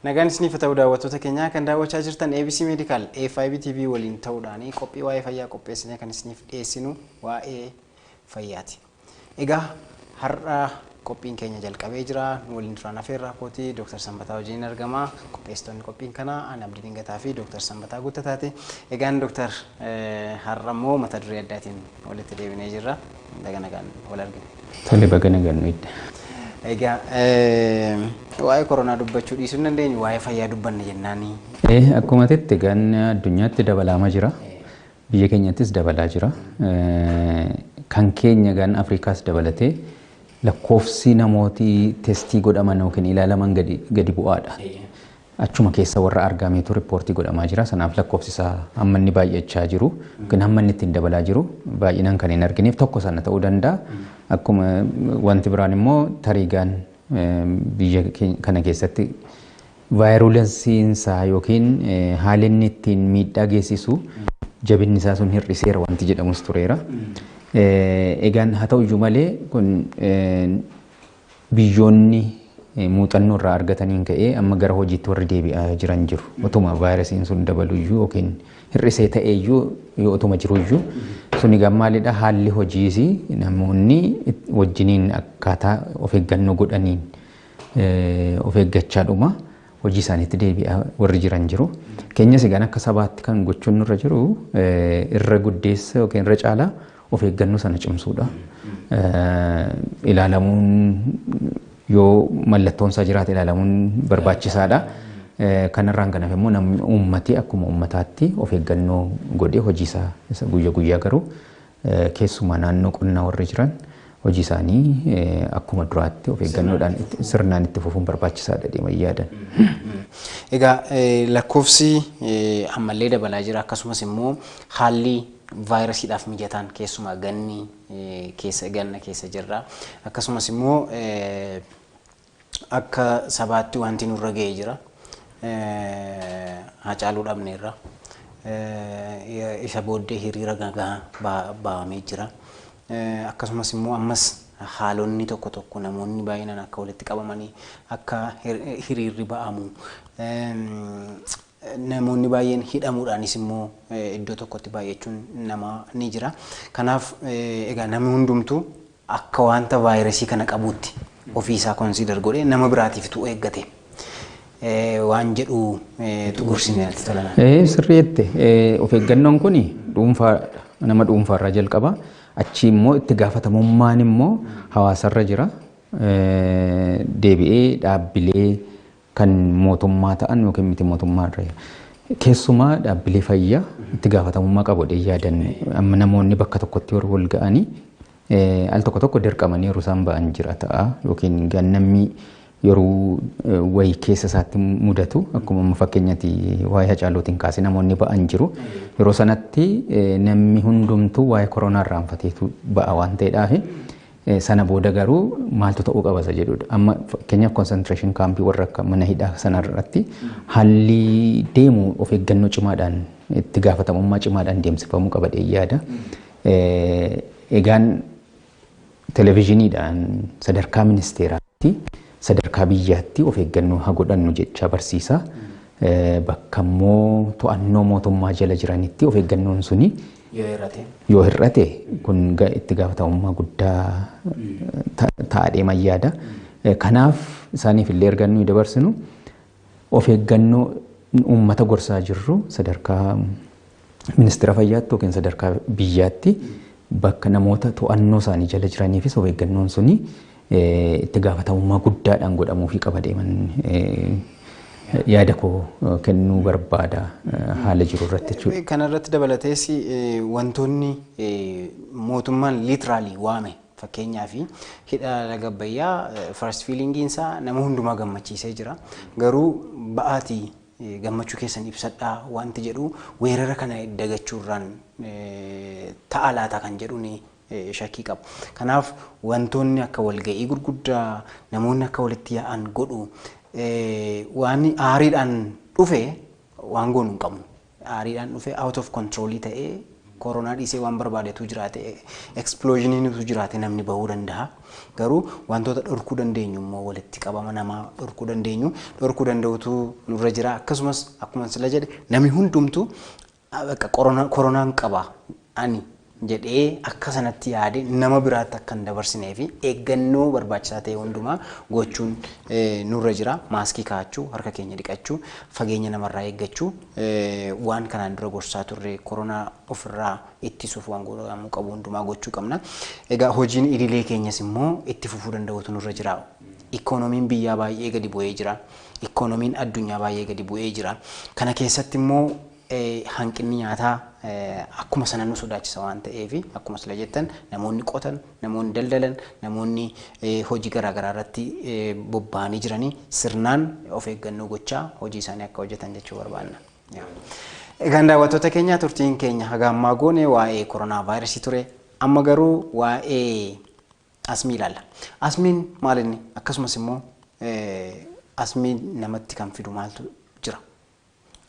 Nagaan isiniif ta'u daawwattoota keenyaa kan daawwachaa jirtan ABC Medical FIB TV waliin ta'uudhaan qophii waa'ee fayyaa qopheessinee kan isiniif dhiyeessinu waa'ee fayyaati. Egaa har'a qophiin keenya jalqabee jira. Nu waliin turaan afeerraa kootii Dr. Sanbataa wajjin argama. Qopheessitoonni qophiin kanaa Aan Abdii Dingataa fi Dr. Sanbataa Guuttataati. Egaan Dr. har'a immoo mata duree addaatiin walitti deebinee jirra. Baga nagaan wal argine. Tole baga nagaan nu idda. Egaa waa'ee koronaa dubbachuu dhiisuu hin dandeenyu waa'ee fayyaa dubbanna jennaani. Eh, Akkuma jette egaan addunyaatti dabalaama jira. Biyya keenyattis dabalaa jira. Eh, Kan keenya egaan Afrikaas dabalatee lakkoofsi namooti testii godhaman yookiin ilaalaman gadi, gadi bu'aadha. Achuma keessa warra argaameetu rippoortii godhamaa jira. Sanaaf lakkoofsi isaa amma inni baay'achaa jiru yookiin hamma inni ittiin dabalaa jiru baay'inaan kan hin argineef tokko sana ta'uu danda'a. Akkuma wanti biraan immoo tariigaan biyya kana keessatti vaayirulensiin isaa yookiin haalli inni ittiin miidhaa geessisu jabinni isaa sun hir'iseera wanti jedhamus tureera. Egaan haa ta'u iyyuu malee kun Biyyoonni muuxannoo irraa argataniin ka'ee amma gara hojiitti warri deebi'aa jiran jiru. Otuma vaayirasiin sun dabaluyyuu yookiin hir'isee ta'eeyyuu yoo otuma jiruyyuu suni egaa maalidha haalli hojiis namoonni wajjiniin akkaataa of eeggannoo godhaniin of eeggachaadhuma. hojii isaaniitti deebi'aa warri jiran jiru. Keenyas egaan akka sabaatti kan gochuun nurra jiru irra guddeessa yookiin irra caalaa of eeggannoo sana cimsuudha. Ilaalamuun yoo mallattoon isaa jiraate ilaalamuun barbaachisaadha. Kanarraan kan hafe immoo namni uummatee akkuma uummataatti of eeggannoo godhee hojii isaa isa guyya guyyaa garuu Keessumaa naannoo qonnaa warri jiran hojii isaanii akkuma duraatti of eeggannoodhaan sirnaan itti fufuun barbaachisaadha deeman yaadan. Egaa lakkoofsi ammallee dabalaa jira akkasumas immoo haalli vaayirasiidhaaf mijataan keessumaa ganni keessa ganna keessa jirra akkasumas immoo Akka sabaatti wanti nurra ga'e jira. Haacaaluu dhabneerra. Isa booddee hiriira nagahaa bahamee jira. Akkasumas immoo ammas haalonni tokko tokko namoonni baay'inaan akka walitti qabamanii akka hiriirri ba'amu Namoonni baay'een hidhamuudhaanis immoo iddoo tokkotti baay'achuun namaa ni jira. Kanaaf egaa namni hundumtuu akka wanta vaayirasii kana qabuutti ofii isaa konsiidar godhee nama biraatiif utuu eeggate waan jedhu tu gorsinee natti tola. Ee sirrii jette of eeggannoon kun dhuunfaa nama dhuunfaarraa jalqaba achii immoo itti gaafatamummaan immoo hawaasarra jira deebi'ee dhaabbilee kan mootummaa ta'an yookiin miti mootummaa irra keessumaa dhaabbilee fayyaa itti gaafatamummaa qabu jedhee yaadan amma namoonni bakka tokkotti warri wal ga'anii eh, al tokko tokko dirqamanii yeroo isaan ba'an jira ta'a yookiin gannamni yeroo eh, wayii keessa isaatti mudatu akkuma amma fakkeenyatti waa'ee hacaalootiin kaasee namoonni ba'an jiru yeroo sanatti eh, namni hundumtuu waa'ee koronaa irraanfateetu ba'a waan ta'eedhaafi Sana booda garuu maaltu ta'uu qaba isa jedhudha. Amma fakkeenyaaf concentration kaampii warra akka mana hidhaa sana irratti haalli deemu of eeggannoo cimaadhaan itti gaafatamummaa cimaadhaan deemsifamuu qaba jedhee yaada. Egaan televizhiniidhaan sadarkaa ministeeraatti sadarkaa biyyaatti of eeggannoo haa godhannu jechaa barsiisa. Bakka immoo to'annoo mootummaa jala jiranitti of eeggannoon suni Yoo hir'ate. yoo hir'ate kun ga- itti gaafatamummaa guddaa ta- ta'a deeman yaada. Eh, Kanaaf isaaniif illee erga nuyi dabarsinu of eeggannoo uummata gorsaa jirru sadarkaa ministeera fayyaatti yookiin sadarkaa biyyaatti bakka namoota to'annoo isaanii jala jiraniifis of eeggannoon suni itti gaafatamummaa guddaadhaan godhamuufii qaba deeman yaada koo kennuu barbaada haala jiru irratti jechuudha. Kana irratti dabalatees wantoonni mootummaan liitiraalii waame fakkeenyaaf hidha laga Abbayyaa first fiilingiin isaa nama hundumaa gammachiisee jira. Garuu ba'aatii gammachuu keessan ibsadhaa wanti jedhu weerara kana dagachuurraan ta'a laata kan jedhuun shakkii qabu. Kanaaf wantoonni akka walga'ii gurguddaa, namoonni akka walitti yaa'an godhu waan aariidhaan dhufe waan goonu hin qabnu. Aariidhaan dhufe out of control ta'ee koronaa dhiisee waan barbaade utuu jiraate explosionii utuu jiraate namni bahuu danda'a. Garuu wantoota dhorkuu dandeenyu immoo walitti qabama namaa dhorkuu dandeenyu dhorkuu danda'utu nurra jira. Akkasumas akkuma sila jedhe namni hundumtu Bakka koronaan qaba ani jedhee akka sanatti yaade nama biraatti akka hin dabarsinee fi eeggannoo barbaachisaa ta'e hundumaa gochuun nurra jira. Maaskii kaa'achuu, harka keenya dhiqachuu, fageenya namarraa eeggachuu waan kanaan dura gorsaa turre koronaa ofirraa ittisuuf waan godhamuu qabu hundumaa gochuu qabna. Egaa hojiin idilee keenyas immoo itti fufuu danda'uutu nurra jira. Ikoonomiin biyyaa baay'ee gadi bu'ee jira. Ikoonomiin addunyaa baay'ee gadi bu'ee jira. Kana keessatti immoo hanqinni nyaataa akkuma sana nu sodaachisa waan ta'eef akkuma sila jettan namoonni qotan, namoonni daldalan, namoonni hojii garaa garaa irratti bobba'anii jiranii sirnaan of eeggannoo gochaa hojii isaanii akka hojjetan jechuu barbaanna. Egaan daawwattoota keenya turtiin keenya haga ammaa goone waa'ee koronaa vaayirasii ture. Amma garuu waa'ee Asmii ilaalla. Asmiin maal inni? Akkasumas immoo asmii namatti kan fidu maaltu jira?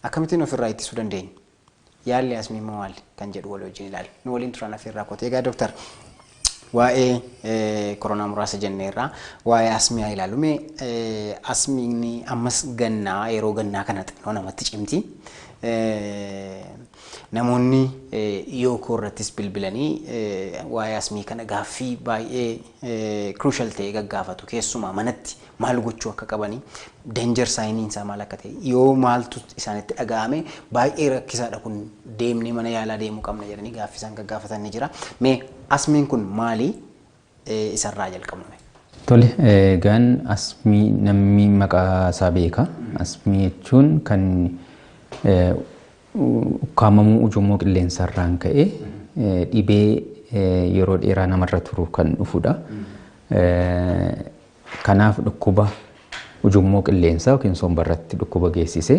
Akkamittiin ofirraa ittisuu dandeenya? Yaalli asmii immoo maali? Kan jedhu walii wajjin ilaalla. Nu waliin turan affeerraa kooti. Egaa doktar waa'ee koronaa muraasa jenneerraa waa'ee asmii haa ilaalu. Mee asmiin ammas gannaa yeroo gannaa kana xinnoo namatti cimti. Namoonni dhiyoo koo irrattis bilbilanii waa'ee asmii kana gaaffii baay'ee crucial ta'e gaggaafatu. Keessumaa manatti maal gochuu akka qabani, danger sign isaa maal akka ta'e, yoo maaltu isaanitti dhaga'ame baay'ee rakkisaadha kun deemnee mana yaalaa deemuu qabna jedhanii gaaffii isaan gaggaafatan ni jira. Mee asmiin kun maali? isa irraa jalqabna mee. Tole, egaan asmii namni maqaa isaa beeka. Asmii jechuun kan ukkaamamuu ujummoo qilleensa irraan ka'e dhibee yeroo dheeraa namarra turu kan dhufudha. Kanaaf dhukkuba ujummoo qilleensaa yookiin somba irratti dhukkuba geessise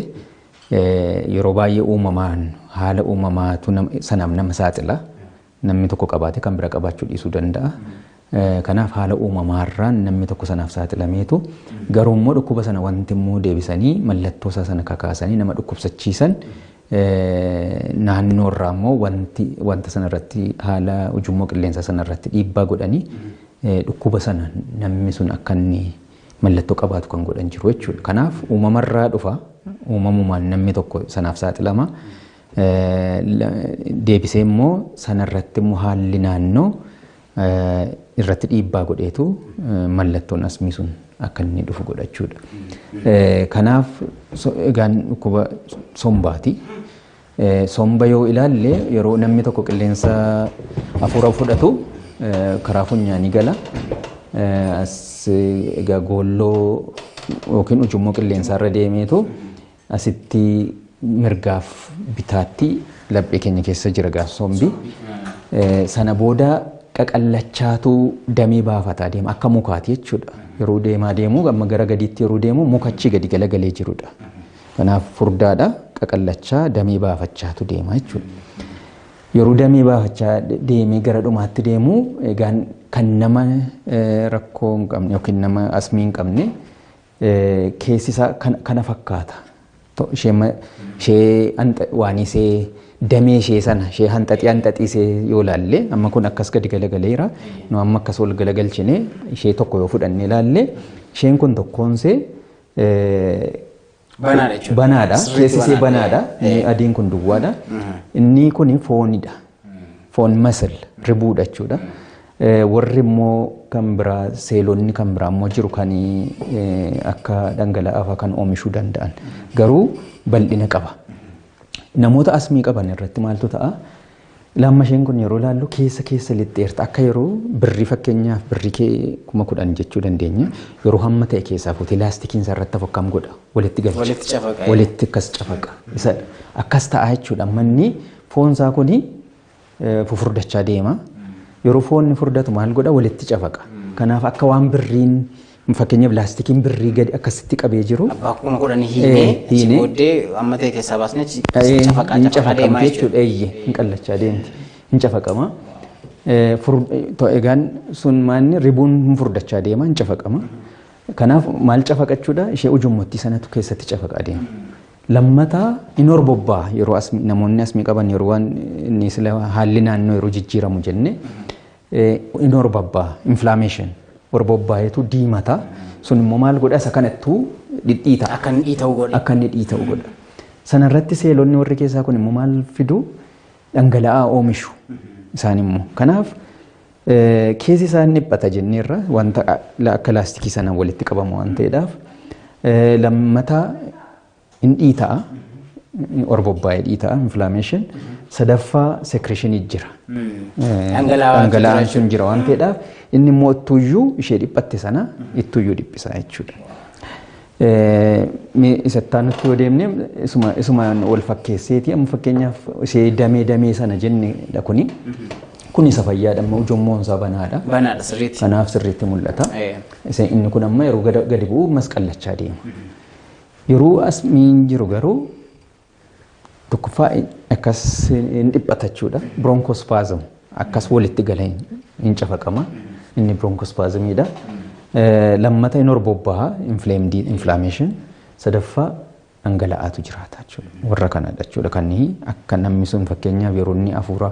yeroo baay'ee uumamaan haala uumamaatu sanaaf nama saaxila. Namni tokko qabaatee kan bira qabaachuu dhiisuu danda'a. Kanaaf haala uumamaarraan namni tokko sanaaf saaxilameetu garuu immoo dhukkuba sana wanti immoo deebisanii mallattoo isaa sana kakaasanii nama dhukkubsachiisan naannoo irraa immoo wanti wanta sana irratti haala ujummoo qilleensaa sana irratti dhiibbaa godhanii dhukkuba sana namni sun akka inni mallattoo qabaatu kan godhan jiru jechuudha. Kanaaf uumamarraa dhufa uumamumaan namni tokko sanaaf saaxilama. Deebisee immoo sanarratti immoo haalli naannoo irratti dhiibbaa godheetu mallattoon asmii sun akka inni dhufu godhachuudha. Kanaaf egaan dhukkuba sombaati. Somba yoo ilaalle yeroo namni tokko qilleensa hafuura fudhatu karaa funyaanii gala. As egaa goolloo yookiin ujummoo qilleensaarra deemeetu Asitti mirgaaf bitaatti laphee keenya keessa jira egaa sombi. Sana booda qaqallachaatu damee baafataa deema akka mukaati jechuudha. Yeroo deemaa deemu amma gara gadiitti yeroo deemu mukachi gadi galagalee jirudha. Kanaaf furdaadha qaqallachaa damee baafachaatu deema jechuudha. Yeroo damee baafachaa deemee gara dhumaatti deemu egaan kan nama rakkoo hin qabne yookiin nama asmii hin qabne keessi isaa kan- kana fakkaata. To- Ishee ma- ishee hanxa- waan isee damee ishee sana ishee hanxaxii hanxaxii isee yoo laalle amma kun akkas gadi galagaleera nu amma akkas ol galagalchine ishee tokko yoo fudhanne laalle isheen kun tokkoon isee eh, Banaadha jechuudha. banaadha Sirriitti keessi isee banaadha. banaadha inni adiin kun duwwaadha inni kun foonidha Foon masil ribuudha jechuudha. Warri immoo kan biraa seelonni kan biraa immoo jiru kan akka dhangala'aa kan oomishuu danda'an garuu bal'ina qaba. Namoota asmii qaban irratti maaltu ta'a? Laamma isheen kun yeroo ilaallu keessa keessa lixxeerta akka yeroo birrii fakkeenyaaf birrii kee kuma kudhan jechuu dandeenya yeroo hamma ta'e keessaa fuutee laastikiin isaa irratti hafu akkam godha walitti galcha walitti akkas cafaqa akkas ta'a jechuudha manni Foon isaa kun fufurdachaa deema. Yeroo foonni furdatu maal godha walitti cafaqa. Kanaaf akka waan birriin fakkeenyaaf laastikiin birrii gadi akkasitti qabee jiru. Abbaa kuma kudhan hiinee si booddee amma ta'e keessaa baasnee si cafaqaa Hin cafaqaa deemaa cafaqamti jechuudha. jechuudha. Eeyyee hin qallachaa deemti. Hin cafaqama. Egaan sun maanni ribuun hin furdachaa deema hin cafaqama. Kanaaf maal cafaqachuudha? Ishee ujummottii sanatu keessatti cafaqa adeema. Lammataa hin horbobbaa yeroo asmi namoonni asmi qaban yeroo waan inni sila haalli naannoo yeroo jijjiiramu jenne hin horbobbaa inflammation horbobbaa'eetu diimata sun immoo maal godha isa kanattuu dhidhiita Akka inni dhiita'u godhe. akka inni dhiita'u godha. Sana irratti seelonni warri keessaa kun immoo maal fidu dhangala'aa oomishu isaan immoo. Kanaaf Keessi isaa hin dhiphata jenneerra wanta akka laastikii sanaan walitti qabamu waan ta'eedhaaf lammataa hin dhiita'a orbobbaa'ee dhiita'a inflammation sadaffaa secretionii jira dhangala'aan sun jira waan ta'eedhaaf inni immoo ittuuyyuu ishee dhiphatte sana ittuuyyuu dhiphisa jechuudha. Mee isa itti aanutti yoo deemne isuma isumaan wal fakkeesseeti amma fakkeenyaaf ishee damee damee sana jenne dha kuni. Kun isa fayyaadha amma ujummoon isaa banaadha. Banaadha sirriitti. Kanaaf sirriitti mul'ata. Eh. Isa inni kun amma yeroo gada- gadi bu'u masqallachaa deema. Yeroo as miin jiru garuu Tokkoffaa akkas hin dhiphata jechuudha. Bronchospasm akkas walitti galee hin cafaqama. Inni bronchospasmiidha. Lammata hin horbobbaha inflamed inflammation. Sadaffaa dhangala'aatu jiraata jechuudha. Warra kanadha jechuudha kan akka namni sun fakkeenyaaf yeroo inni hafuura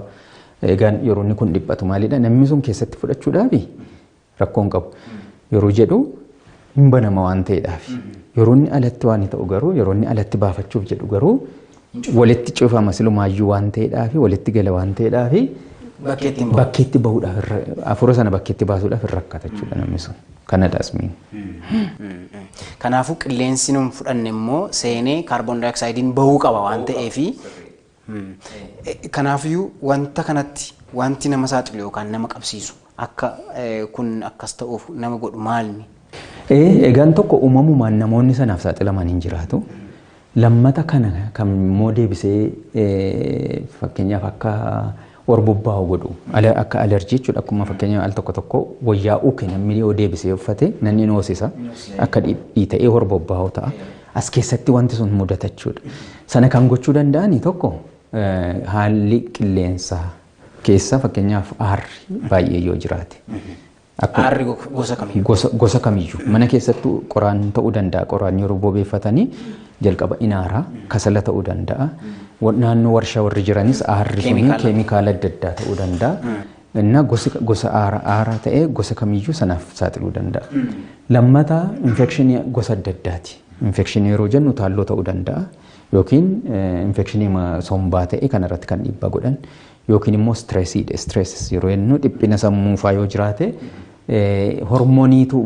egaan yeroo inni kun dhiphatu maalidha namni sun keessatti fudhachuudhaafi rakkoo hin qabu yeroo jedhu hin banama waan ta'eedhaaf. Yeroo inni alatti waan ta'u garuu yeroo inni alatti baafachuuf jedhu garuu walitti cufama silumaayyuu waan ta'eedhaaf walitti gala waan ta'eedhaaf Bakkeetti hin bakkeetti bahuudhaaf irra- hafuura sana bakkeetti baasuudhaaf hin rakkata jechuudha namni sun. Kanadha asmiin. Kanaafuu qilleensi nun fudhanne immoo seenee kaarboon daayoksaaydiin bahuu qaba waan ta'eefi Kanaafiyyuu wanta kanatti wanti nama saaxilu yookaan nama qabsiisu akka kun akkas ta'uuf nama godhu maalni? Egaan tokko uumamumaan namoonni sanaaf saaxilaman hin jiraatu. Lammata kana kan immoo deebisee fakkeenyaaf akka warbobbaahu godhu. Ala akka alerjii jechuudha akkuma fakkeenya al tokko tokko wayyaa uke namni yoo deebisee uffate nanni ni hoosisa akka dhi- dhiita'ee warbobbaahu ta'a. As keessatti wanti sun mudata jechuudha. Sana kan gochuu danda'ani tokko eh, haalli qilleensaa keessa fakkeenyaaf aarri baay'ee yoo jiraate Akkuma- Aarri go- gosa kamiyyuu. gosa, gosa kamiyyuu mana keessattuu qoraan ta'uu danda'a qoraan yeroo bobeeffatanii jalqaba inaaraa kasala ta'uu danda'a Wa- naannoo warshaa warri jiranis aarri kun Keemikaala. keemikaala adda addaa ta'uu danda'a innaa gosi- gosa aara aaraa ta'ee gosa kamiyyuu sanaaf saaxiluu danda'a lammataa infekshinii gosa adda addaati infekshinii yeroo jennu taalloo ta'uu danda'a yookiin eh, infekshinii ma- sombaa ta'e kanarratti kan dhiibbaa godhan yookiin immoo stressii dha. Stresses yeroo jennu dhiphina sammuu faa yoo jiraate hormooniitu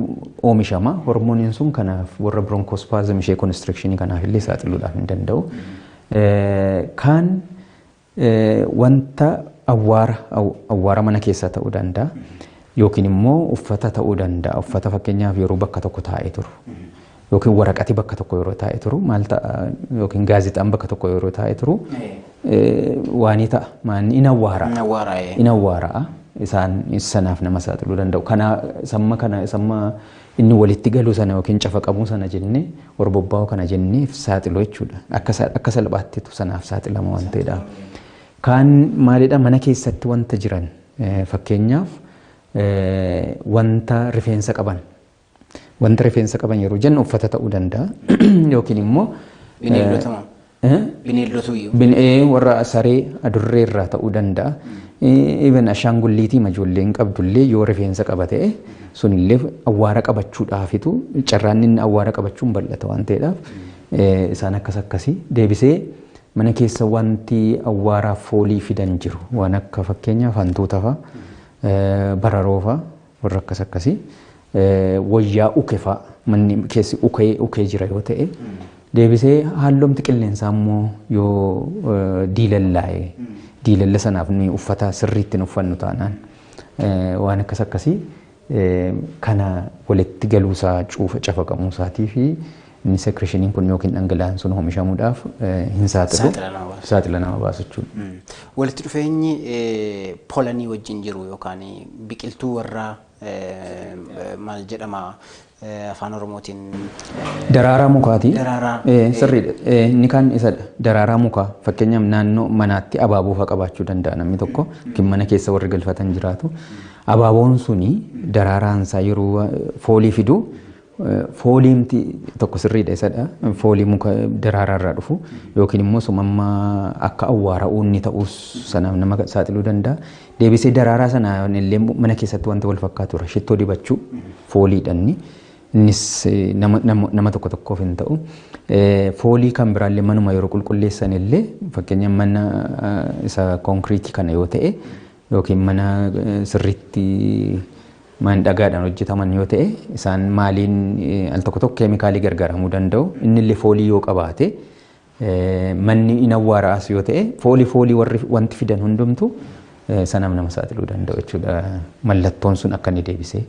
oomishama. Hormooniin sun kanaaf warra bronchospasm ishee constriction kanaaf illee saaxiluudhaaf hin danda'u. Kaan wanta awwaara awwaara mana keessaa ta'uu danda'a. Yookiin immoo uffata ta'uu danda'a. Uffata fakkeenyaaf yeroo bakka tokko taa'ee turu. yookiin waraqati bakka tokko yeroo taa'e turu maal ta'a yookiin gaazexaan bakka tokko yeroo taa'e turu waanii ta'a maanni in awwaara in awwaara isaan sanaaf nama saaxiluu danda'u kana samma kana samma inni walitti galuu sana yookiin cafaqamuu sana jenne warbobba'uu kana jenneef saaxiluu jechuudha akka salphaattitu sanaaf saaxilama waan ta'edha. Kaan maalidha mana keessatti wanta jiran fakkeenyaaf wanta rifeensa qaban Wanta rifeensa qaban yeroo jennu uffata ta'uu danda'a yookiin immoo Bineeldota moo? eh, Bineeldota iyyuu. bin- eh, warra saree adurree irraa ta'uu danda'a. Even ashaangulliitii ijoolleen qabdullee yoo rifeensa qaba ta'e sunillee awwaara qabachuudhaafitu carraan inni awwaara qabachuun bal'ata waan ta'eedhaaf eh, isaan akkas akkasii deebisee mana keessa wanti awwaaraaf foolii fidan jiru waan akka fakkeenyaaf hantuuta fa'a eh, bararoo fa'a Warra akkas akkasi wayyaa uke faa manni keessi ukee ukee jira yoo ta'e deebisee haalloomti qilleensaa immoo yoo diilallaa'e diilalla sanaaf nuyi uffata sirriitti hin uffannu taanaan waan akkas akkasii kana walitti galuusaa cuufa cafaqamuusaatii fi Inni sekreshiniin kun yookiin dhangala'aan sun oomishamuudhaaf hin saaxilu. Saaxila nama baasu. Saaxila nama baasu jechuudha. Walitti dhufeenyi polanii wajjin jiru yookaan biqiltuu warraa maal jedhama afaan oromootiin Daraaraa mukaati. Daraaraa. Eh, Sirriidha. Eh, Inni kaan isadha. Daraaraa mukaa. Fakkeenyaaf naannoo manaatti abaaboo fa'aa qabaachuu danda'a namni tokko. Yookiin mana keessa warri galfatan jiraatu. Abaaboon suni daraaraan isaa yeroo eh, foolii fidu Fooliimti tokko sirriidha isadha. Foolii muka daraaraa irraa dhufu yookiin immoo sumamma akka awwaara uunni ta'uus sanaaf nama saaxiluu danda'a. Deebisee daraaraa sana illee mana keessatti wanti wal fakkaatu irra shittoo dibachuu fooliidha inni. Innis nama, nama, nama tokko tokkoof hin ta'u. Foolii kan biraallee manuma yeroo qulqulleessan illee fakkeenya mana isa konkiriitii kana yoo ta'e yookiin mana sirriitti man dhagaadhaan hojjetaman yoo ta'e isaan maaliin al tokko tokko keemikaalii gargaaramuu danda'u inni illee foolii yoo qabaate manni hin awwaaraas yoo ta'e foolii foolii warri wanti fidan hundumtu sanaaf nama saaxiluu danda'u jechuudha mallattoon sun akka inni deebisee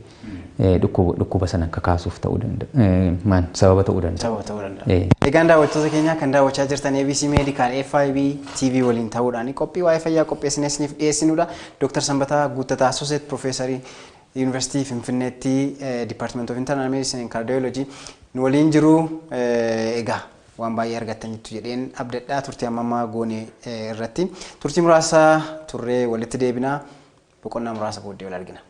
dhukkuba sanan kakaasuuf ta'uu danda'a. Maan sababa ta'uu danda'a. Sababa ta'uu danda'a. Egaan daawwattoota keenyaa kan daawwachaa jirtan ABC Medical FIB TV waliin ta'uudhaan qophii waa'ee fayyaa qopheessinee isiniif dhiyeessinudha. Dooktar Sanbataa Guuttataa Asoseet Piroofeesarii Yuunivarsiitii Finfinneetti Dipaartimenti of Internal Medicine and Cardiology nu waliin jiru. Egaa waan baay'ee argattaniittu jedheen abdadhaa turtii amma ammaa goone irratti. Turtii muraasa turree walitti deebinaa. Boqonnaa muraasa booddee wal argina.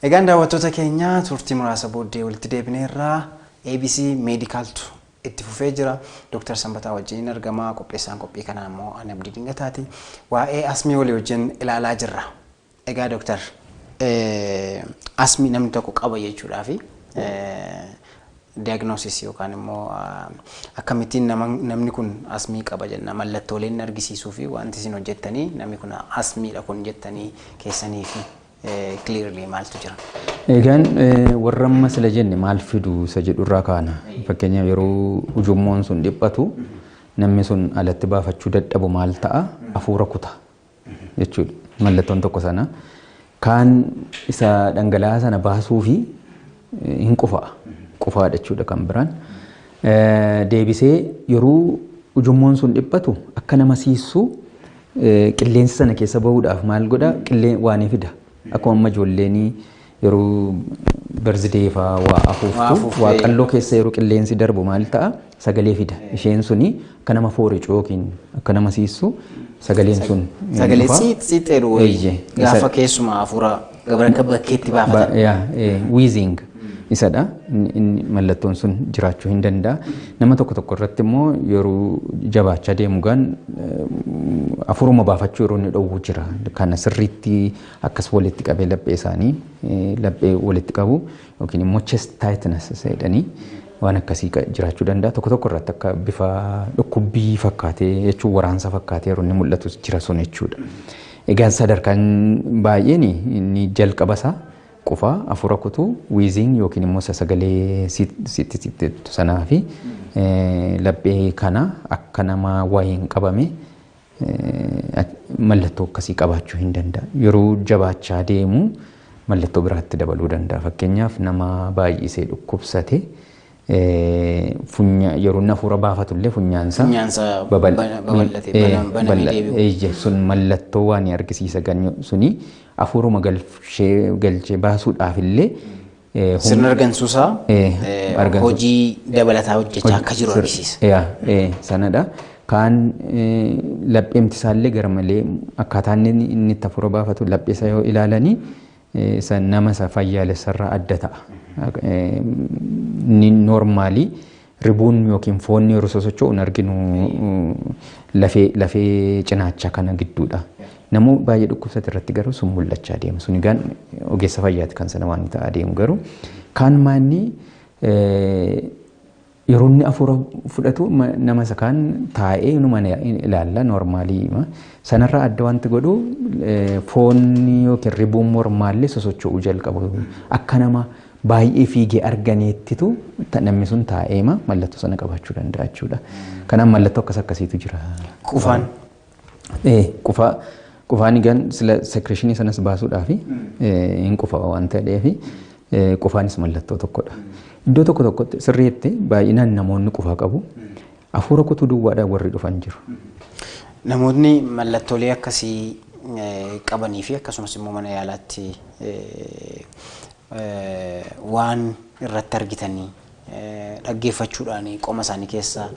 Egaan daawwattoota keenya turtii muraasa booddee walitti deebineerraa ABC Meedikaaltu itti fufee jira. Dooktar Sanbataa wajjin argama. Qopheessaan qophii kanaa immoo Anabdii Dingataati. Waa'ee asmii walii wajjin ilaalaa jirra. Egaa Doktar asmii namni tokko qaba jechuudhaaf diagnosis yookaan immoo akkamittiin namni kun asmii qaba jenna mallattoolee inni argisiisuu fi wanti isin hojjettanii namni kun asmiidha kun jettanii keessanii fi clearly maaltu jira? Egaan warra amma sila jenne maal fidu isa jedhu irraa kaana. Fakkeenyaaf yeroo ujummoon sun dhiphatu namni sun alatti baafachuu dadhabu maal ta'a? Hafuura kuta. jechuudha. Mallattoon tokko sana kaan isa dhangala'aa sana baasuu fi hin qufa'a. Qufaadha jechuudha kan biraan. Deebisee yeroo ujummoon sun dhiphatu akka nama siissuu qilleensi sana keessa bahuudhaaf maal godha? Qillee waanii fida. Akkuma amma ijoolleen yeroo birthday faa waa Waa afuuftu afuuftee. waaqalloo keessa yeroo qilleensi darbu maal ta'a sagalee fida isheen suni akka nama fooricu yookiin akka nama siissu sagaleen sun ni Sagalee dhufa. siit siit jedhu Eeyyee. wayii. Gaafa Isa- keessumaa hafuura gabra akka bakkeetti baafatan. Ba- yaa, eh, wheezing isadha. Mallattoon sun jiraachuu hin danda'a. Nama tokko tokko irratti immoo yeroo jabaachaa deemu gaan afuuruma baafachuu yeroo inni dhowwu jira. Kana sirriitti akkas walitti qabee laphee isaanii laphee walitti qabu yookiin immoo chest tightness jedhanii waan akkasii jiraachuu danda'a. Tokko tokko irratti akka bifa dhukkubbii fakkaatee jechuun waraansa fakkaatee yeroo inni mul'atus jira sun jechuudha. Egaa sadarkaan baay'een inni jalqaba isaa Qufaa, afuura kutuu, wheezing yookiin immoo isa sagalee siit siit siit jettu sanaa fi laphee kana akka nama wayiin qabame mallattoo akkasii qabaachuu hin danda'a. Yeroo jabaachaa deemu mallattoo biraatti dabaluu danda'a. Fakkeenyaaf nama baay'isee dhukkubsate funya yeroo inni hafuura baafatu illee funyaansa Funyaansa babal- bana- babal'ate, eh, bana- banamee balla- deebi'u. eh, je- sun mallattoo waan ni argisiisa ganyo suni hafuuruma galchee galchee baasuudhaaf illee eh, hum- Sirna argansuusaa Eh, eh, argansu- hojii dabalataa hojjechaa akka jiru Sir- argisiisa. yaa, eh, sanadha. Kaan eh, lapheemti isaallee gara malee akkaataa inni inni itti hafuura baafatu lapheessa yoo ilaalanii isa nama isa fayyaalessarraa adda ta'a. Inni noormaalii ribuun yookiin foonni yeroo sosocho'u hin arginu lafee lafee cinaacha kana gidduudha. Namuu baay'ee dhukkubsate irratti garuu sun mul'achaa deema. Sun egaan ogeessa fayyaati kan sana waan ta'aa deemu garuu kaan maanni Yeroo inni afuura fudhatu nama isa kaan taa'ee inuma ilaalla noormaalii. Sanarraa adda wanti godhu foonni yookiin ribuun mormaallee sosocho'uu jalqabu. Akka nama baay'ee fiigee arganeettitu namni sun taa'eema mallattoo sana qabaachuu danda'a jechuudha. Kanaaf mallattoo akkas akkasiitu jira. Qufaan. Ee, qufaa qufaan egaan sila secretionii sanas baasuudhaaf hin qufa waan ta'eef ee, qufaanis mallattoo tokkodha. Iddoo tokko tokkotti sirriitti baay'inaan namoonni qufaa qabu. Hafuura kutuu duwwaadhaan warri dhufan jiru. Namootni mallattoolee akkasii eh, qabanii fi akkasumas immoo mana yaalaatti eh, eh, waan irratti argitanii dhaggeeffachuudhaan qoma isaanii keessa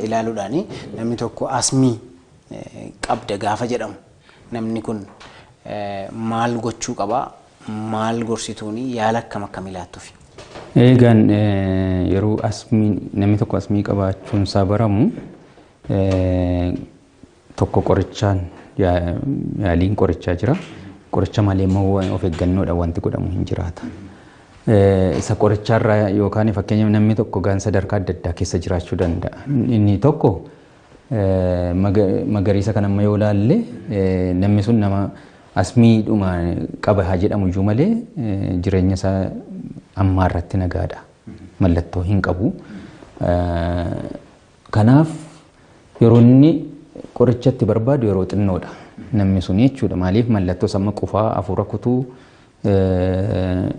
ilaaluudhaan namni tokko asmii qabda gaafa jedhamu namni kun maal gochuu qaba? Maal gorsituun yaala akkam akkamii laattufi? Eegaan yeroo asmii namni tokko asmii qabaachuun isaa baramu tokko qorichaan yaaliin qorichaa jira. Qoricha malee immoo of eeggannoodhaan wanti godhamu hin jiraata. Isa qorichaarraa yookaan fakkeenyaaf namni tokko gaan sadarkaa adda addaa keessa jiraachuu danda'a. Inni tokko magariisa kan amma yoo ilaalle namni sun nama asmiidhuma qaba haa jedhamu iyyuu malee jireenya isaa ammaa irratti nagaadha. Mallattoo hin qabu. Kanaaf yeroo inni qoricha itti barbaadu yeroo xinnoodha namni sun jechuudha. Maaliif mallattoo samma qufaa hafuura kutuu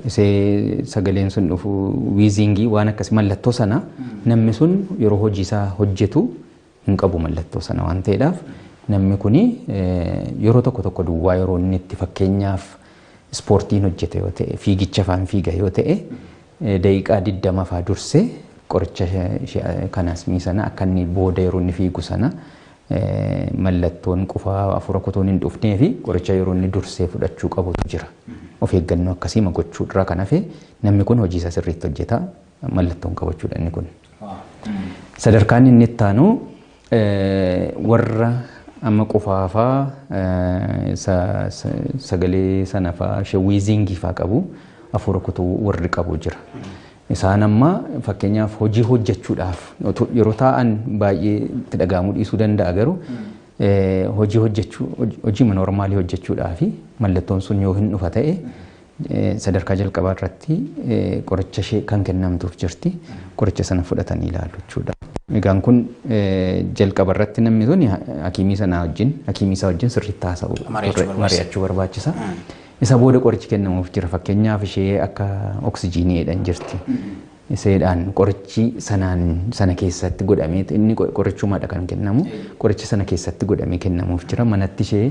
isee sagaleen sun dhufu wiiziingii waan akkasii mallattoo sana namni sun yeroo hojii isaa hojjetu hin qabu mallattoo sana waan ta'eedhaaf namni kun yeroo tokko tokko duwwaa yeroo inni itti fakkeenyaaf ispoortiin hojjeta yoo ta'e, fiigicha faan fiiga yoo ta'e, daqiiqaa 20 faa dursee qoricha kanaasmii sana akka inni booda yeroo inni fiigu sana mallattoon qufaa hafuura kutuun hin dhufnee fi qoricha yeroo inni dursee fudhachuu qabutu jira. Of eeggannoo akkasii ma gochuu irraa kan hafe namni kun hojii isaa sirriitti hojjeta mallattoon qabachuudha inni kun. Sadarkaan inni itti aanu Warra amma qufaa faa sa, sa, sagalee sana faa she wheezing faa qabu afuura kutuu warri qabu jira. Isaan amma fakkeenyaaf hojii hojjechuudhaaf otu- yeroo taa'an baay'ee itti dhaga'amuu dhiisuu danda'a garuu eh, hojii hojjechuu hoj- hojiima noormaalii hojjechuudhaafi mallattoon sun yoo hin dhufa ta'e Sadarkaa jalqabaa irratti qoricha ishee kan kennamtuuf jirti. Qoricha sana fudhatanii ilaalu jechuudha. Egaan kun jalqaba irratti namni sun hakiimii sanaa wajjin hakiimii isaa wajjin sirriitti haasa'uu mari'achuu barbaachisa. Isa booda qorichi kennamuuf jira. Fakkeenyaaf ishee akka oksijiinii jedhan jirti. Iseedhaan qorichi sanaan sana keessatti godhamee inni qorichumaadha kan kennamu. Qorichi sana keessatti godhamee kennamuuf jira. Manatti ishee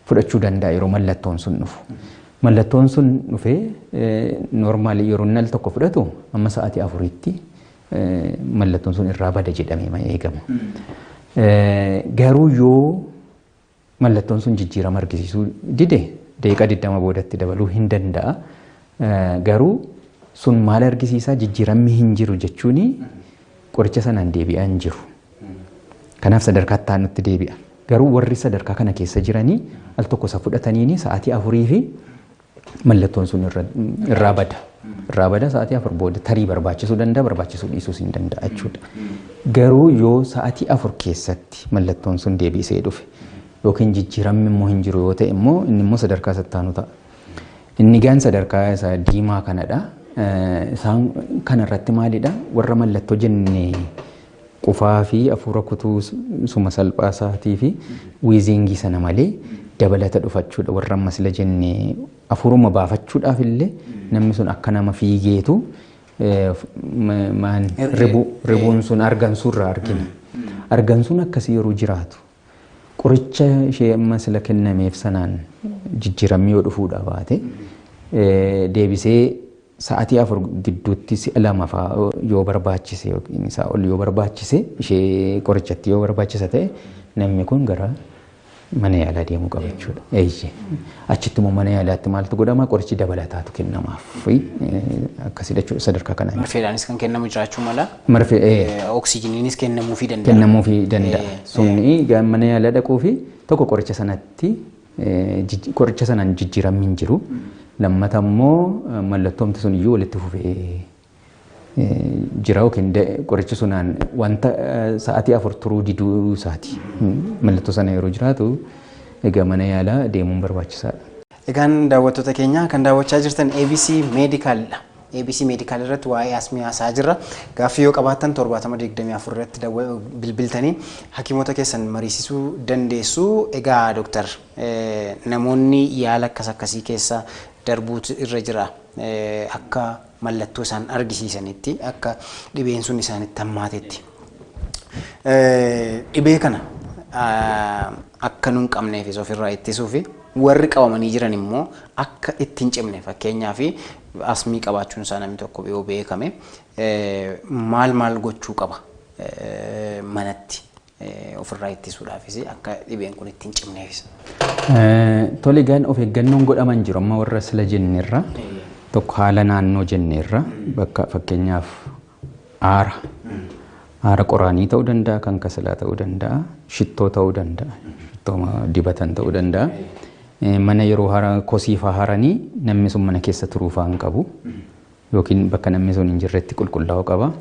fudhachuu danda'a yeroo mallattoon sun dhufu. Mallattoon sun dhufee noormaali yeroo inni al tokko fudhatu amma sa'aatii afuritti mallattoon sun irraa bada jedhamee ma eegama. Garuu yoo mallattoon sun jijjiirama argisiisuu dide daqiiqaa 20 boodatti dabaluu hin danda'a. Garuu sun maal argisiisaa jijjiiramni hin jiru jechuun qoricha sanaan deebi'aa hin jiru. Kanaaf sadarkaa itti aanutti deebi'a. Garuu warri sadarkaa kana keessa jiranii al tokko isa fudhataniini sa'aatii afurii fi mallattoon sun irra- irraa bada. Irraa bada sa'aatii afur booda tarii barbaachisuu danda'a barbaachisuu dhiisuus hin danda'a jechuudha. Garuu yoo sa'aatii afur keessatti mallattoon sun deebisee dhufe yookiin jijjiiramni immoo hin jiru yoo ta'e immoo inni immoo sadarkaa isa itti aanu ta'a. Inni gaan sadarkaa isa diimaa kanadha. Eh, Isaan kanarratti maalidha? Warra mallattoo jenne Qufaa fi afuura kutuu suma salphaa isaatii fi wiiziingii sana malee dabalata dhufachuudha warra amma sila jenne afuuruma baafachuudhaaf illee namni sun akka nama fiigeetu maan ribuun sun argansuu irraa argina. Argansuun akkasii yeroo jiraatu qoricha ishee amma sila kennameef sanaan jijjiiramni yoo dhufuudha baate deebisee Sa'atii afur gidduutti si'a lama faa yoo barbaachise yookiin isaa ol yoo barbaachise ishee qorichattii yoo barbaachisa ta'e namni kun gara mana yaalaa deemuu qaba jechuudha. Eeyyee. Achitti immoo mana yaalaatti maaltu godhama qorichi dabalataatu kennamaaf fi akkasidha jechuudha sadarkaa kanaan. Marfeedhaanis kan kennamu jiraachuu mala. Marfee ee Oksijiniinis kennamuufii danda'a. kennamuufii danda'a. Ee, Sunni mana yaalaa dhaquu fi tokko qoricha sanatti Qoricha sanaan jijjiiramni hin jiru. Lammata immoo mallattoomti sun iyyuu walitti fufee jira yookiin qorichi sunaan wanta sa'aatii afur turuu diduu isaati. Mallattoo sana yeroo jiraatu egaa mana yaalaa deemuun barbaachisaadha. Egaan daawwattoota keenya kan daawwachaa jirtan ABC Meedikaalidha. Abc Medical irratti waa'ee asmii haasa'aa jirra. Gaaffii yoo qabaattan 70 24 irratti dawwa- bilbiltanii hakiimota keessan mariisisuu dandeessu. Egaa Doktar eh, namoonni yaala akkas akkasii keessa darbuutu irra jira eh, akka mallattoo isaan argisiisanitti akka dhibeen sun isaanitti hammaatetti. Dhibee kana akka nun qabneefis ofirraa ittisuufi warri qabamanii jiran immoo akka itti hin cimne fakkeenyaaf asmii qabaachuun isaa namni tokko yoo beekame maal maal gochuu qaba manatti ofirraa ittisuudhaafis akka dhibeen kun itti hin cimneefis. Tole gan of eeggannoon godhaman jiru amma warra sila jenneerra tokko haala naannoo jenneerra bakka fakkeenyaaf Aara. Aara qoraanii ta'uu danda'a, kan kasalaa ta'uu danda'a, shittoo ta'uu danda'a, shittoo dibatan ta'uu danda'a. Mana yeroo hara kosii faa haranii namni sun mana keessa turuu faa hin qabu. Yookiin bakka namni sun hin jirretti qulqullaa'uu qaba.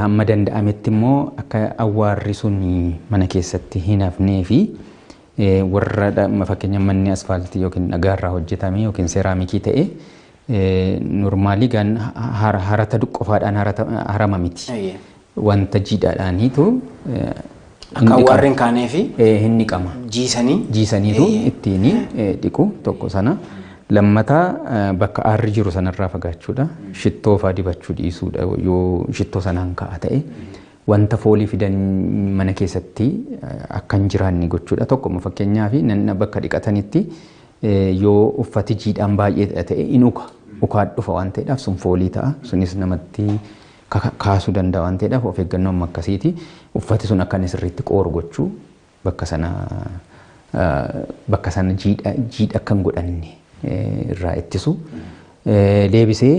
Hamma danda'ametti immoo akka awwaarri sun mana keessatti hin hafnee fi warra fakkeenya manni asfaaltii yookiin dhagaarraa hojjetame yookiin seeraamikii ta'e Normaalii gaan harata qofaadhaan harama miti. Wanta jiidhaadhaaniitu Akka warreen kaanee fi hin dhiqama. jiisanii Jiisaniitu ittiin dhiqu tokko sana. Lammataa bakka aarri jiru sanarraa fagaachuudha. Shittoo faa dibachuu dhiisuudha yoo shittoo sanaan ka'a ta'e. Wanta foolii fidan mana keessatti akka hin jiraanne gochuudha. Tokko fakkeenyaaf bakka dhiqatanitti Yoo uffati jiidhaan baay'eedha ta'e in uka. Ukaan dhufa waan ta'eedhaaf sun foolii ta'a. Sunis namatti kaasuu danda'a waan ta'eedhaaf of eeggannoo amma akkasiiti. Uffati sun akka inni sirriitti qooru gochuu bakka sana bakka sana jiidha jiidha akka hin godhanne irraa ittisu. Deebisee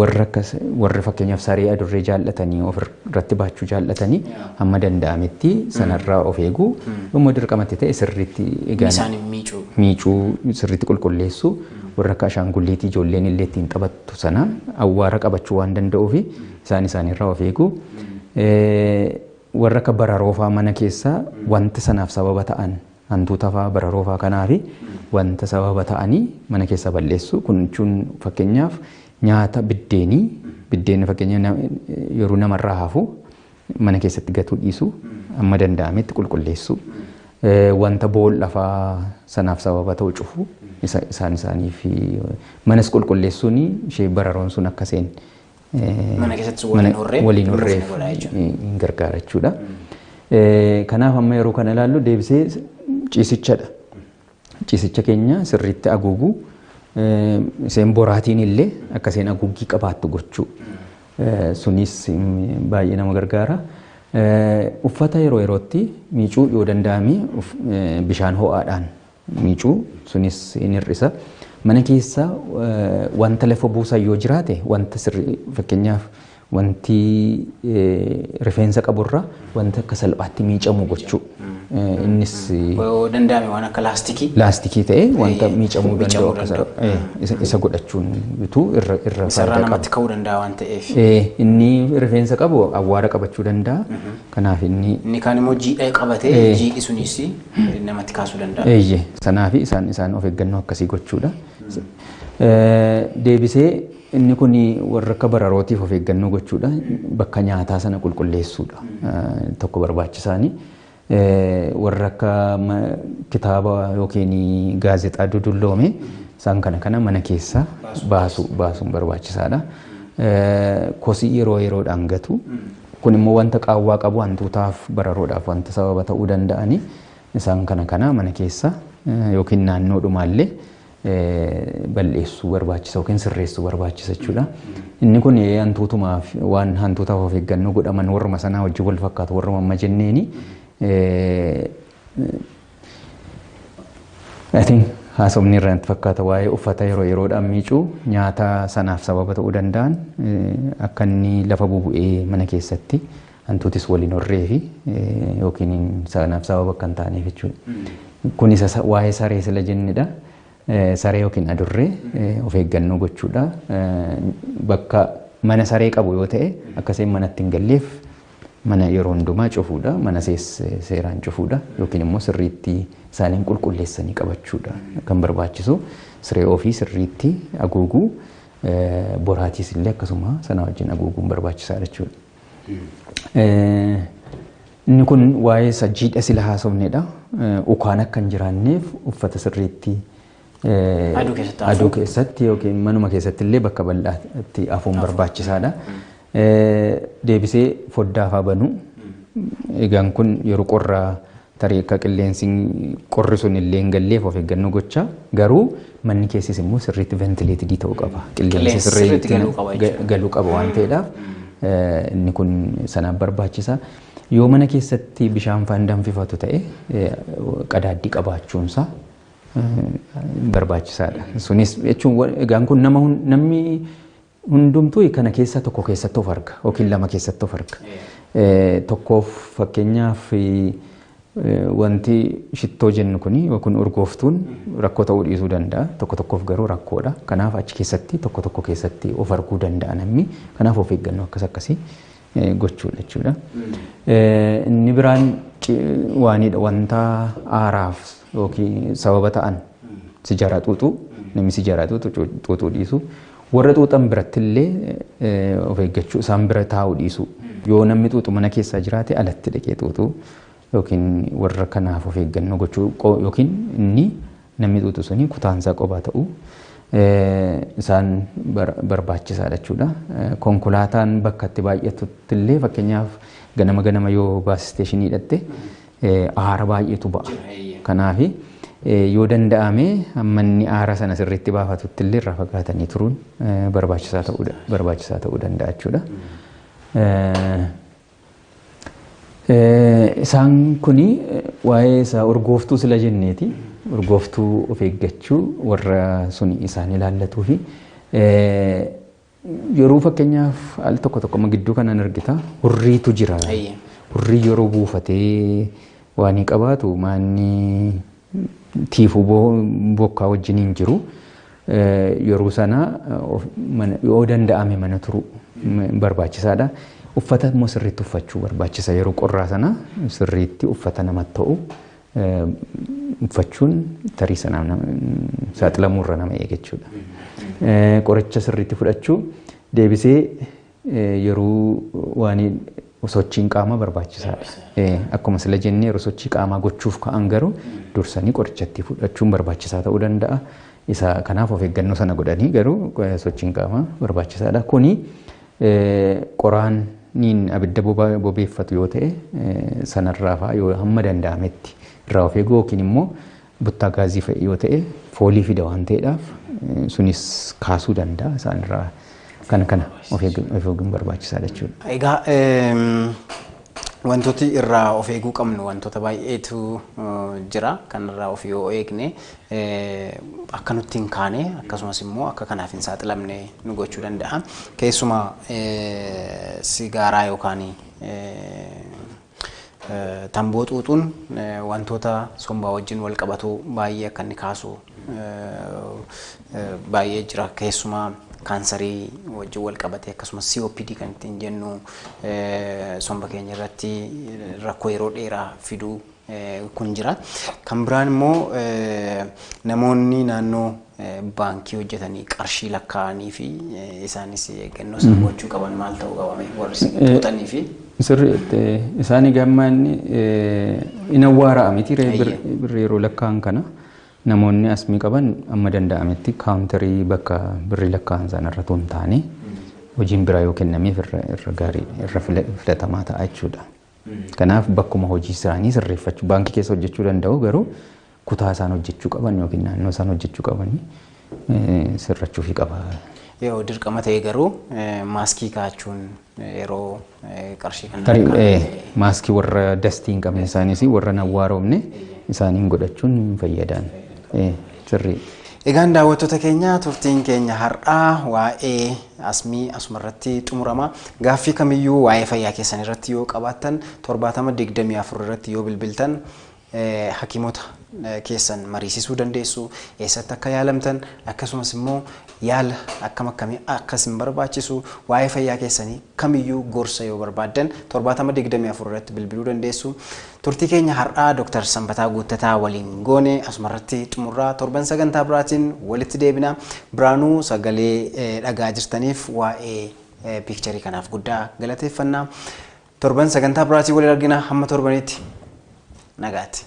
Warri akkas warri fakkeenyaaf saree adurree jaallatanii ofirratti baachuu jaallatanii hamma danda'ametti sanarraa of eeguu yommuu dirqamatti ta'e sirriitti egaan Isaan hin miicuu. miicuu sirriitti qulqulleessuu warra akka ashaangulliitii ijoolleen illee ittiin taphattu sana awwaara qabachuu waan danda'uuf isaan isaaniirraa of eeguu Eh, warra akka bararoo fa'aa mana keessaa wanta sanaaf sababa ta'an hantuuta faa, bararoo faa kanaafi wanta sababa ta'anii mana keessaa balleessu. Kun jechuun fakkeenyaaf nyaata biddeenii, biddeenni fakkeenya na- yeroo namarraa hafu mana keessatti gatuu dhiisu amma danda'ametti qulqulleessu. Eh, Wanta boolla faa sanaaf sababa ta'u cufu isa- isaan isaaniif manas qulqulleessuun ishee bararoon sun akka seen Mana keessattis waliin mana- horree waliin kunuunsa horreef godhaa jechuudha. hin gargaara jechuudha. Eh, Kanaaf amma yeroo kana ilaallu deebisee ciisichadha. Ciisicha keenya sirriitti haguuguu eh, isheen boraatiin illee akka isheen haguuggii qabaattu gochuu. Eh, Sunis mm, baay'ee nama gargaara. Eh, Uffata yeroo yerootti miicuu yoo danda'ame uf- eh, bishaan ho'aadhaan miicuu sunis in hir'isa. Mana keessa wanta lafa buusan yoo jiraate wanta sirrii fakkeenyaaf wanti rifeensa qaburra wanta akka salphaatti miicamu gochuu. Innis Yoo danda'ame waan akka laastikii. laastikii ta'e wanta Ta'ee, miicamuu danda'u miicamuu akka danda'u. isa- isa godhachuun bituu irra irra Isarraa faayidaa qaba. namatti ka'uu danda'a waan ta'eef. Eh, inni rifeensa qabu awwaara qabachuu danda'a. Kanaaf inni. Inni kaan immoo jiidha qabate, Ee. jiidhi sunis namatti kaasuu danda'a. Eeyye, sanaafi isaan isaan of eeggannoo akkasii gochuudha. Eh, Deebisee inni kun warra akka bararootiif of eeggannoo gochuudha. Bakka nyaataa sana qulqulleessuudha. Eh, Tokko barbaachisaani. Eh, Warra akka ma- kitaaba yookiin gaazexaa dudulloome isaan kana kana mana keessaa baasu baasuun barbaachisaadha. Eh, Kosii yeroo yeroodhaan gatu. Kun immoo wanta qaawwaa qabu hantuutaaf bararoodhaaf wanta sababa ta'uu danda'ani. Isaan kana kana mana keessa yookiin naannoo dhumaallee bal'eessuu barbaachisa yookiin sirreessuu barbaachisa jechuudha. Inni kun hantuutumaaf waan hantuutaaf of eeggannoo godhaman warruma sanaa wajjin wal fakkaatu warruma amma jenneeni I think haasofni irraa natti fakkaata waa'ee uffata yeroo yeroodhaan miicuu nyaata sanaaf sababa ta'uu danda'an akka inni lafa bubu'ee mana keessatti hantuutis waliin horree fi yookiin sanaaf sababa akka hin taaneef jechuudha. Kun isa waa'ee saree sila jennedha. Saree yookiin adurree of eeggannoo gochuudha. Bakka mana saree qabu yoo ta'e akka isheen manatti hin galleef Mana yeroo hundumaa cufuudha, mana sees seeraan cufuudha yookiin immoo sirriitti isaaniin qulqulleessanii qabachuudha kan barbaachisu. Siree ofii sirriitti aguuguu, boraatiis illee akkasuma sana wajjin aguuguun barbaachisaadha jechuudha. Inni kun waa'ee isa jiidha sila haasofnedha. Ukaan akka hin jiraanneef uffata sirriitti Eh, Aduu keessatti hafuu. aduu keessatti yookiin manuma keessatti illee bakka bal'aatti hafuun barbaachisaadha. Eh, Deebisee foddaa faa banuu. Egaan kun yeroo qorra tarii akka qilleensi qorri sun illee hin galleef of eeggannoo gocha. Garuu manni keessis immoo sirriitti ventileetidii ta'uu qaba. Qilleensi Qilleensi sirriitti sirriitti galuu qaba ga- jechuudha. galuu qaba waan ta'eedhaaf eh, inni kun sanaaf barbaachisa. Yoo mana keessatti bishaan faan danfifatu ta'e eh, qadaaddii qabaachuunsaa barbaachisaadha. Sunis jechuun egaan kun nama namni hundumtuu kana keessaa tokko keessatti of arga yookiin lama keessatti of arga. Tokkoof fakkeenyaaf wanti shittoo jennu kun yookiin urgooftuun rakkoo ta'uu dhiisuu danda'a. Tokko tokkoof garuu rakkoodha. Kanaaf achi keessatti tokko tokko keessatti of arguu danda'a namni. Kanaaf of eeggannoo akkas akkasii gochuudha jechuudha. Inni biraan waanidha wanta aaraaf yookiin sababa ta'an sijaaraa xuuxuu namni sijaaraa xuuxu xuuxuu dhiisu warra xuuxan biratti illee of eeggachuu isaan bira taa'uu dhiisu yoo namni xuuxu mana keessaa jiraate alatti dhaqee xuuxuu yookiin warra kanaaf of eeggannoo gochuu yookiin inni Namni xuuxu suni kutaan isaa qophaa ta'uu isaan barbaachisaadha jechuudha. Konkolaataan bakka itti baay'atutti illee fakkeenyaaf ganama ganama yoo baas isteeshinii dhatte aara baay'eetu ba'a. Kanaaf yoo danda'ame amma inni aara sana sirriitti baafatutti illee irraa fagaatanii turuun barbaachisaa ta'uu barbaachisaa ta'uu danda'a jechuudha. Isaan kun waa'ee isaa urgooftuu sila jenneeti. Urgooftuu of eeggachuu warra sun isaan ilaallatuu fi yeroo fakkeenyaaf al tokko tokko gidduu kanaan argita hurriitu jira. Hurrii yeroo buufatee waan qabaatu maanni tiifuu bokkaa wajjin hin jiru. Yeroo sana yoo danda'ame mana turuu barbaachisaadha. Uffata immoo sirriitti uffachuu barbaachisa. Yeroo qorraa sana sirriitti uffata namatti ta'u uffachuun tarii sanaaf saaxilamuurra nama eega jechuudha. Qoricha sirriitti fudhachuu deebisee yeroo waan sochiin qaamaa barbaachisaadha. Eh, Akkuma sila jennee yeroo sochii qaamaa gochuuf ka'an garuu dursanii qorichatti fudhachuun barbaachisaa ta'uu danda'a. Isa kanaaf of eeggannoo sana godhanii garuu eh, sochiin qaamaa barbaachisaadha. Kuni eh, qoraaniin abidda boba- bobeeffatu yoo ta'e eh, sanarraa fa'a yoo hamma danda'ametti irraa of eeguu yookiin immoo buttaa gaazii fa'i yoo ta'e foolii fida waan ta'eedhaaf sunis kaasuu danda'a isaan irraa kana kana of eeguun barbaachisaadha jechuudha. Egaa wantooti irraa of eeguu qabnu wantoota baay'eetu jira kan irraa of yoo eegne akka nutti hin kaane akkasumas immoo akka kanaaf hin saaxilamne nu gochuu danda'a. Keessumaa sigaaraa yookaan Tamboo xuuxuun wantoota sombaa wajjin walqabatu baay'ee akka inni kaasu baay'ee jira. Keessumaa kaansarii wajjin walqabatee akkasumas COPD kan ittiin jennu somba keenya irratti rakkoo yeroo dheeraa fiduu kun jira. Kan biraan immoo namoonni naannoo baankii hojjetanii qarshii lakkaa'anii fi isaanis eeggannoo isaan gochuu qaban maal ta'uu qaba mee warri isin xuuxanii fi Sirri isaanii gammaa inni hin awwaara'a miti ree Eeyyee. birri yeroo lakkaa'an kana namoonni asmii qaban amma danda'ametti kaawuntarii bakka birri lakkaa'an sana irra tuun taane hojiin biraa yoo kennameef irra irra gaarii irra fila- filatamaa ta'a jechuudha. Kanaaf bakkuma hojii isaanii sirreeffachuu baankii keessa hojjechuu danda'u garuu kutaa isaan hojjechuu qaban yookiin naannoo isaan hojjechuu qabanii sirrachuufii qaba. Yoo dirqama ta'e garuu maaskii kaa'achuun yeroo qarshii kan Tarii maaskii warra dastii hin qabne isaaniis warra hin awwaaroomne isaaniin godhachuun hin fayyadaan. Sirrii. Egaan daawwattoota keenya turtiin keenya har'aa waa'ee asmii asuma irratti xumurama. Gaaffii kamiyyuu waa'ee fayyaa keessan irratti yoo qabaattan 7024 irratti yoo bilbiltan hakiimota keessan mariisisuu dandeessu, eessatti akka yaalamtan akkasumas immoo Yaala akkam akkamii akka isin barbaachisu, waa'ee fayyaa keessanii kamiyyuu gorsa yoo barbaaddan 70 24 irratti bilbiluu dandeessu. Turtii keenya har'aa Dr. Sanbataa Guuttataa waliin goone asumarratti xumurraa torban sagantaa biraatiin walitti deebina. Biraanuu sagalee eh, dhagaa jirtaniif waa'ee eh, piikcharii kanaaf guddaa galateeffanna. Torban sagantaa biraatiin waliin argina hamma torbanitti nagaatti.